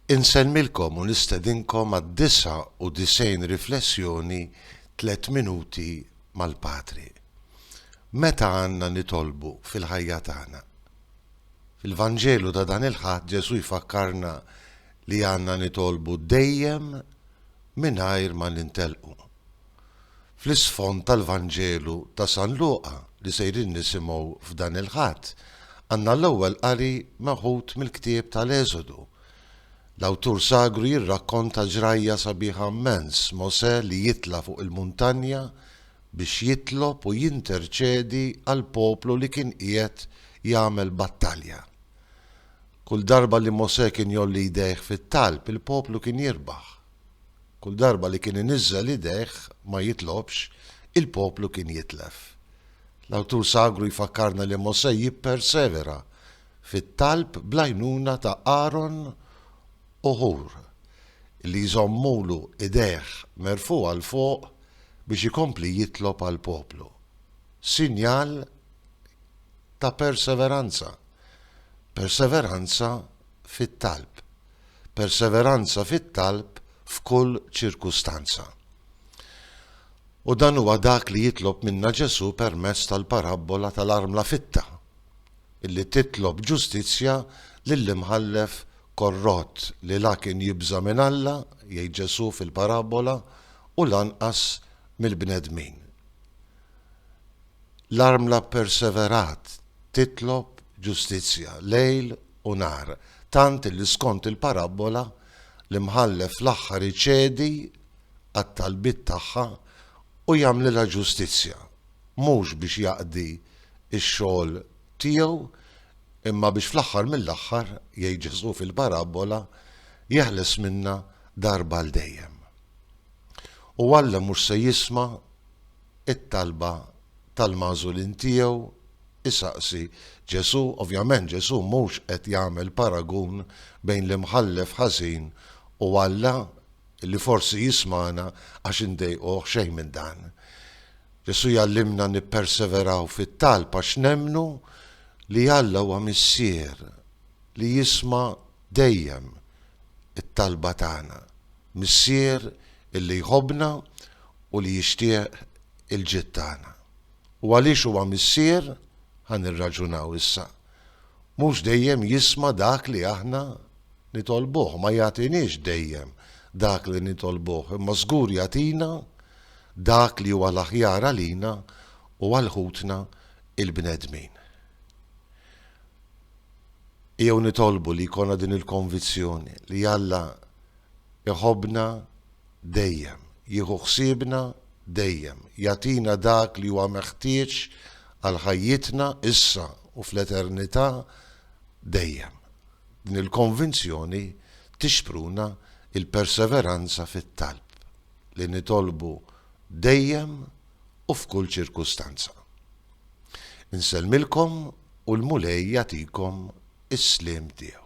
Insellmilkom u nistedinkom għad-99 riflessjoni Tliet Minuti mal-Patri. Meta għandna nitolbu fil-ħajja tagħna? Fil-Vanġelu ta' dan il-Ħadd Ġesù jfakkarna li għandna nitolbu dejjem mingħajr ma nintellqu. Fl-isfond tal-Vanġelu ta' San Luqa li sejrin nisimgħu f'dan il-Ħadd, għandna l-ewwel qari meħud mill-ktieb tal-Eżodu. L-awtur sagru jirrakkonta ġrajja sabiħa mmens, Mosè li jitla' fuq il-muntanja biex jitlob u jinterċedi għall-poplu li kien qiegħed jagħmel battalja. Kull darba li Mosè kien jgħolli jdejh fit-talb, il-poplu kien jirbaħ. Kull darba li kien iniżżel idejh ma jitlobx, il-poplu kien jitlef. L-awtur sagru jfakkarna li Mosè jippersevera fit-talb bl-għajnuna ta' Aron u Ħur, li jżommulu idejh merfugħa 'l fuq biex ikompli jitlob għall-poplu. Sinjal ta' perseveranza, perseveranza fit-talb. perseveranza fit-talb f'kull ċirkustanza. U dan huwa dak li jitlob minna Ġesù permezz tal-parabbola tal-armla fitta, li titlob ġustizzja lill-imħallef korrott li la kien jibża' minn Alla, jgħid Ġesù fil-parabbola, u lanqas mill-bnedmin. L-armla pperseverat titlob ġustizzja lejl u nhar, tant li skont il-parabbola, l-imħallef fl-aħħar iċedi għat-talbiet tagħha u jagħmlilha ġustizzja, mhux biex jaqdi x-xogħol tiegħu, imma biex fl-aħħar mill-aħħar, jgħid Ġesù fil-parabbola, jeħles minnha darba għal dejjem. U Alla mhux se jisma'. it-talba tal-magħżulin tiegħu, isaqsi Ġesù. Ovvjament Ġesù mhux qed jagħmel paragun bejn l-imħallef ħażin u Alla li forsi jismagħna għax indejquh, xejn minn dan. Ġesù jgħallimna nipperseveraw fit-talb għax nemmnu li Alla huwa Missier li jisma' dejjem it-talba tagħna, Missier illi jħobbna u li jixtieq il-ġid tagħna. U għaliex huwa Missier, ħa nirraġunaw issa, mhux dejjem jisma' dak li aħna nitolbuh, ma jagħtiniex dejjem dak li nitolbuh, imma żgur jagħtina dak li huwa l-aħjar għalina u għal ħutna l-bnedmin. Ejjew nitolbu li jkollna din il-konvizzjoni li Alla jħobbna dejjem, jieħu ħsiebna dejjem, jagħtina dak li huwa meħtieġ għal ħajjitna issa u fl-eternità dejjem. Din il-konvinzjoni tixpruna l-perseveranza fit-talb, li nitolbu dejjem, u f'kull ċirkustanza. Insellmilkom u l-Mulej jagħtikom is-sliem tiegħu.